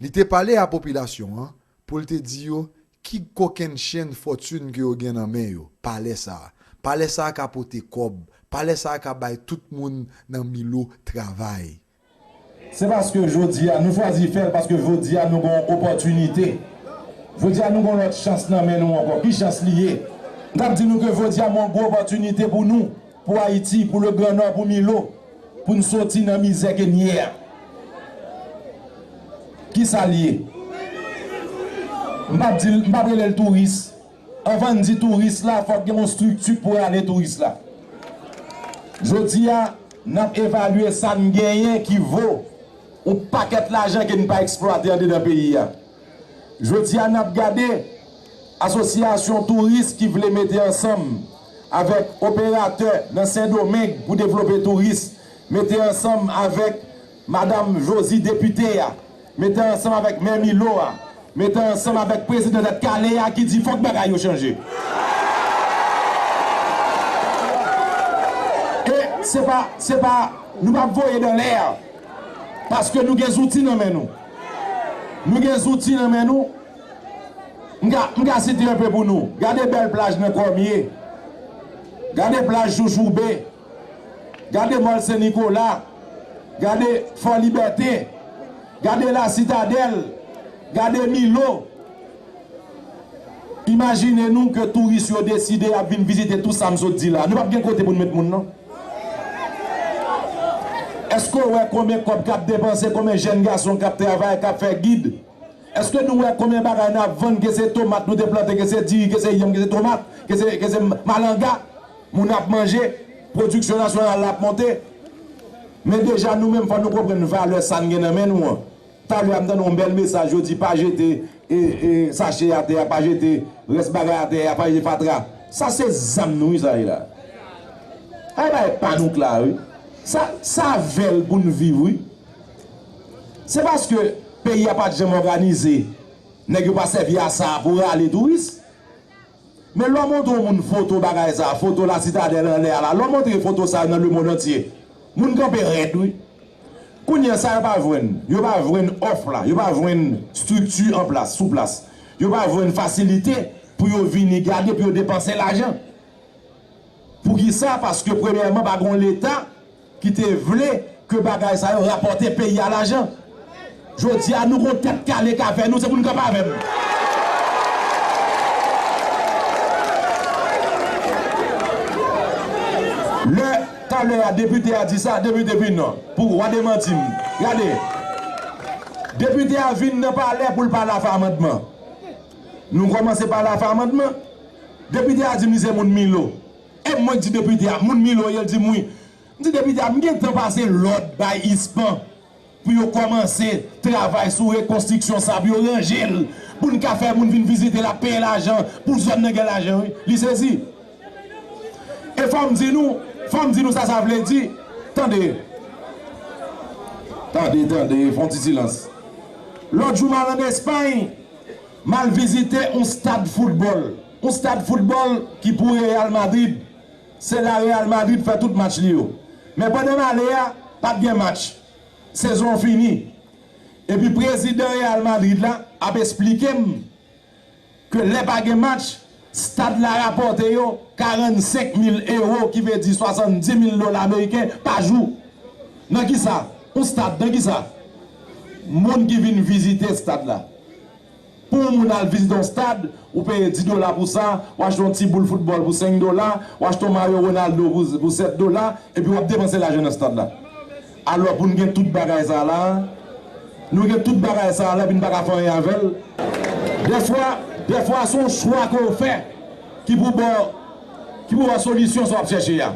Li te pale a popilasyon an pou l te di yo ki kokenn chenn fòtin ke yo gen nan men yo, palè sa a. Palè sa a ka pote kòb. Palè sa a ka bay tout moun nan Milo travay. Se paske jodi a, nou chwazi fè l paske jodi a nou gen yon opòtinite. Jodi a nou gen yon lòt chans nan men nou ankò. Ki chans li ye? M t ap di nou ke jodi a m gen yon gwo opòtinite pou nou. Pou Ayiti, pou le gran nò, pou Milo, pou n soti nan mizè ke n ye a. Ki sa l ye? M pa p di l, m pa p rele l touris. Anvan n di touris la, fòk gen yon strikti pou rale touris la. Jodi a, n ap evalye sa n genyen ki vo yon pakèt lajan ke n pa eksplwate andedan peyi a. Jodi a n ap gade asosyasyon touris ki vle mete ansanm avèk operatè nan Sendomeng pou devlope touris, mete ansanm avèk Madam Josy depite a, mete ansanm avèk Mè Milo a, mete ansanm avèk prezidan Tèt Kale a ki di fòk bagay yo chanje. E se pa, se pa, nou pa voye dan lè paske nou gen zouti nan men nou. Nou gen zouti nan men nou. M ka, m ka site anpe pou nou. Gade bèl plaj nan Kòmye. Gade plaj Joujoube. Gade Mòl Sen Nikola. Gade Fò Libète. Gade La Sitadèl. Gade Milo. Imajine nou ke touris yo deside y ap vin vizite tou sa m sot di la. Nou p ap gen kote pou n met moun non. Èske w wè konbyen kòb k ap depanse, konbyen jèn gason k ap travay, k ap fè gid? Èske nou wè konbyen bagay n ap vann, ke se tomat nou te plante, ke se diri, ke se yanm, ke se tomat, ke se, ke se malanga? Moun ap manje, pwodiksyon nasyonal la ap monte. Men deja nou menm fò nou konprann valè sa n gen nan men nou an. Talè a m tande yon bèl mesaj yo di pa jete sache atè a pa jete rès bagay atè a pa jete fatra sa se zam nou wi sa ye la a e bagay pa nou k la wi sa sa vèl pou n viv wi se paske peyi a pat janm òganize nèg yo pa sèvi a sa pou rale touris Men lè w montre yon moun foto bagay sa a, foto La Citadelle anlè a la, lè w montre foto sa yo nan lemondantye, moun kanpe rèd wi. Kounye a, sa yo pa jwenn, yo pa jwenn òf la, yo pa jwenn estrikti an plas, sou plas, yo pa jwenn fasilite pou yo vini gade, pou yo depanse lajan. Poukisa? Paske premyèman pa gen yon Leta. ki te vle ke bagay sa yo rapòte peyi a lajan. Jodi a nou kon tèt kale ka fè nou, se pou nou kanpe avè m. Lè talè a depite a di sa, depite vin nan, pou wa demanti m. Gade, depite a vin nan palè pou l pale afè amandman. Nou kòmanse pale afè amandman, depite a di m li se moun Milo. Em mwen k di depite a moun Milo ye l di m wi. M di depite a m gentan pase lòd bay ISPAN pou yo kòmanse travay sou rekonstriksyon sa pou yo ranje l pou n ka fè moun vin vizite l ap peye lajan pou zòn nan gen lajan wi. Li sezi. E fò m di nou, fò m di nou sa sa vle di. Tande. Tande, tande, fon ti silans. Lòt jou m al an Espay, m al vizite yon stad foutbòl. Yon stad foutbòl ki pou Real Madrid, se la Real Madrid fè tout match li yo. Men pandan m ale a, pa t gen match. Sezon an fini. Epi prezidan Real Madrid la ap esplike m ke lè pa gen match, stad la rapòte yo 45 mil ewo ki vle di 70 mil dola meriken pa jou. Nan kisa? Yon stad nan kisa? Moun ki vin vizite stad la. Pou yon moun al vizite yon stad, ou peye 10 dola pou sa, w achte yon ti boul foutbòl pou 5 dola, w achte yon mayo Ronaldo pou 7 dola, epi w ap depanse lajan nan stad la. Alò pou n gen tout bagay sa a la a? Nou gen tout bagay sa a la epi n pa ka fè anyen avè l? Dèfwa, dèfwa se yon chwa ke w fè ki pou ba w, ki pou ba w solisyon sa w ap chèche a.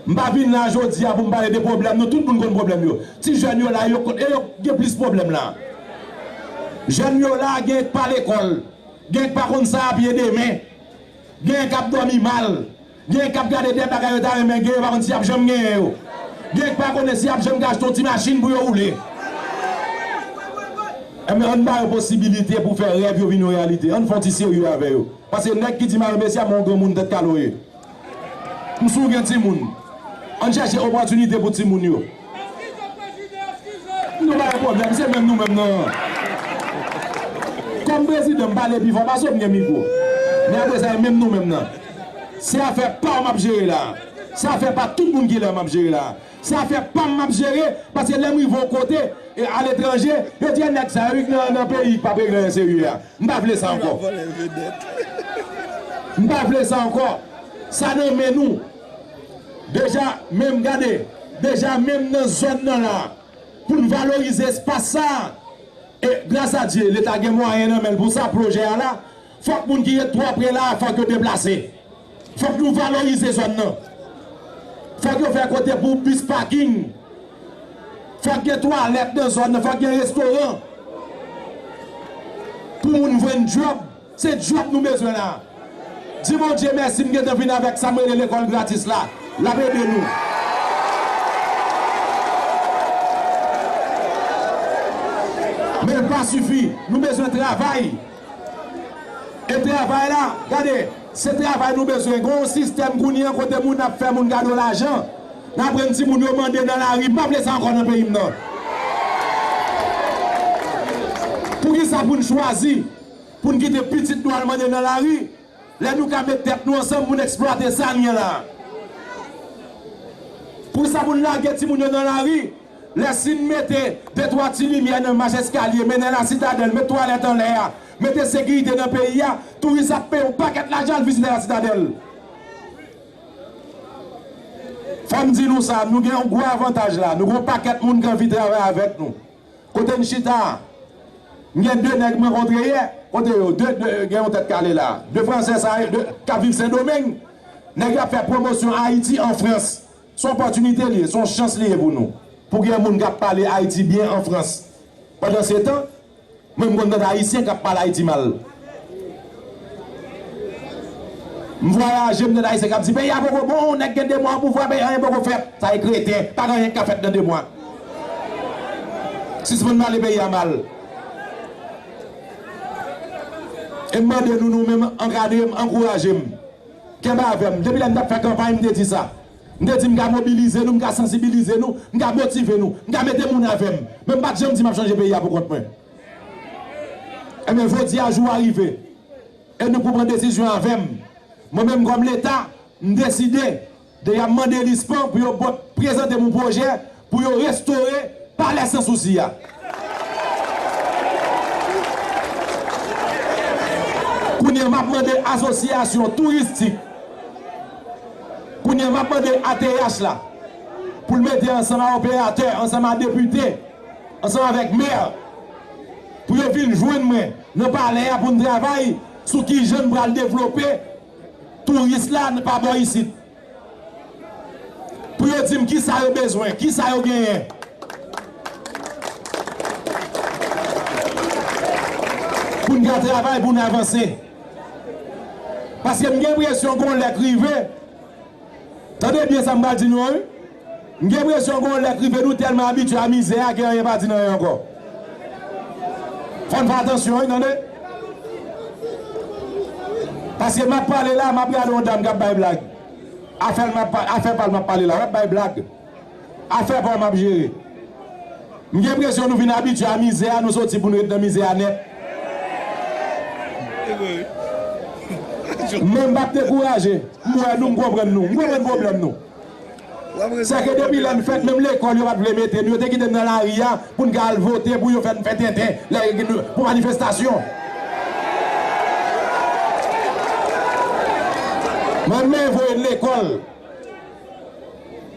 M pa vin la jodi a pou m pale de pwoblèm nou, tout moun konn pwoblèm yo. Ti jèn yo la, yo konn e yo k gen plis pwoblèm la. Jèn yo la, genyen k pa lekòl, genyen k pa konn sa y ap ye demen, genyen k ap dòmi mal, genyen k ap gade dè bagay yo ta renmen gen yo pa konn si y ap janm genyen yo, genyen k pa konnen si y ap janm ka achte yon ti machin pou yo woule. Enben, ann ba yo posibilite pou fè rèv yo vin yon reyalite, ann fè yon ti serye avè yo. Pase nèg ki di mare mesye a men yon granmoun tèt kale w ye. M si w gen timoun. Ann chèche opòtinite pou timoun yo. M di w pa gen pwoblèm, se menm nou menm nan an. Kòm prezidan, m pale pi fò pase w, m gen mikwo. Men apre sa, e menm nou menm nan. Se afè pa w m ap jere la a. Se afè pa tout moun ki la a m ap jere la a. Se afè pam map jere paske lèm rive yon kote e aletranje yo di e nèg sa yo wi ki nan peyi ki pap regle anyen serye a m pa vle sa ankò m pa vle sa ankò sa nan men nou deja menm gade deja menm nan zòn nan la poun valorize espas sa e gras a Dye leta gen mwayen nan menl pou sa pwojè a la. Fòk moun ki ret twò pre la a fòk yo deplase. Fòk nou valorize zòn nan. Fòk yo fè kote pou bis paking. Fòk gen twalèt nan zòn nan. Fòk gen restoran. Pou moun jwenn djòb. Se djòb nou bezwen la a. Di Bondye mèsi m gentan vin avèk sa m rele lekòl gratis la. L ap ede nou. Men l pa sifi. Nou bezwen travay. E travay la? Gade, se travay nou bezwen. Gen yon sistèm kounye an kote moun ap fè moun kado lajan. N ap rann timoun yo mande nan lari. M pa vle sa ankò nan peyi m nan. Poukisa pou n chwazi pou n kite pitit nou al mande nan lari? Lè nou ka met tèt nou ansanm pou n eksplwate sa n gen la a. Pou sa pou n lage timoun yo nan lari, lè si n mete de twa ti limyè nan mach eskalye mennen Lasitadèl, met twalèt anlè a, mete sekirite nan peyi a, touris ap peye yon pakèt lajan al vizite Lasitadèl. Fò m di nou sa, nou gen yon gwo avantaj la a, nou gen yon pakèt moun ki anvi travay avèk nou. Kote n chita a? M gen 2 nèg mwen kontre yè. Kote yo? De, de, gen yon tèt kale la a. 2 franse sa yo, de, k ap viv Sendomeng. Nèg yo ap fè pwomosyon Ayiti an Frans. S on opòtinite li ye, s on chans li ye pou nou. Pou gen moun k ap pale Ayiti byen an Frans. Pandansetan, mwen m konn tande Ayisyen k ap pale Ayiti mal. M vwayaje m tande ayisyen kap di peyi a poko bon nèg gen 2 mwa o pouvwa peyi anyen poko fèt sa e kreten pa gen anyen ki ka fèt nan 2 mwa sispann pale peyi a mal e m mande nou nou menm ankadre m ankouraje m kenbe avè m depi lè m tap fè kanpay m te di sa m te di m ka mobilize nou m ka sansibilize nou m ka motive nou m ka mete moun avè m men m pat janm di map chanje peyi a pou kont mwen. Ebyen jodi a jou a rive e nou pou pran desizyon avè m. Mwen menm kòm leta m deside de ya mande LISPAN pou yo bot prezante m yon pwojè pou yo restore palè san sousi a. Kounye a m ap mande asosyasyon touristik, kounye a m ap mande ATH la pou l mete ansanm a operatè, ansanm a depite. ansanm avèk Maire pou yo vin jwenn mwen nan palè a pou n travay sou kijan n pral devlope touris la pa bò isit. Pou yo di m kisa yo bezwen, kisa yo genyen. Pou n ka travay pou n avanse. Paske m gen enpresyon gon lè k rive, tande byen sa m pral di nou an wi. M gen presyon gon lè k rive nou tèlman abitye a mizè a ke anyen pa di n anyen ankò. Fò n fè atansyon wi tande. Paske m ap pale la, m ap gade yon dam k ap bay blag. Afè l m ap, afè pa l m ap pale la, l ap bay blag. Afè pa w m ap jere. M gen presyon nou vin abitye a mizè a, nou soti pou n ret nan mizè a nèt. Men m p ap dekouraje. M wè nou, m konprann nou. M konprann pwoblèm nou. Se ke depi lè m fèt menm lekòl yo pa t vle mete n, yo te kite n nan lari a pou n ka al vote pou yo fè n fè tenten lè yo gen pou manifestasyon. Mwen menm yo voye n lekòl.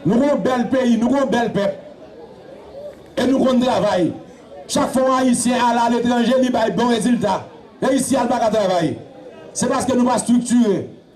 Nou gen yon bèl peyi, nou gen yon bèl pèp e nou konn travay. Chak fwa yon Ayisyen ale aletranje li bay bon rezilta e isi a l pa ka travay. Se paske nou pa striktire.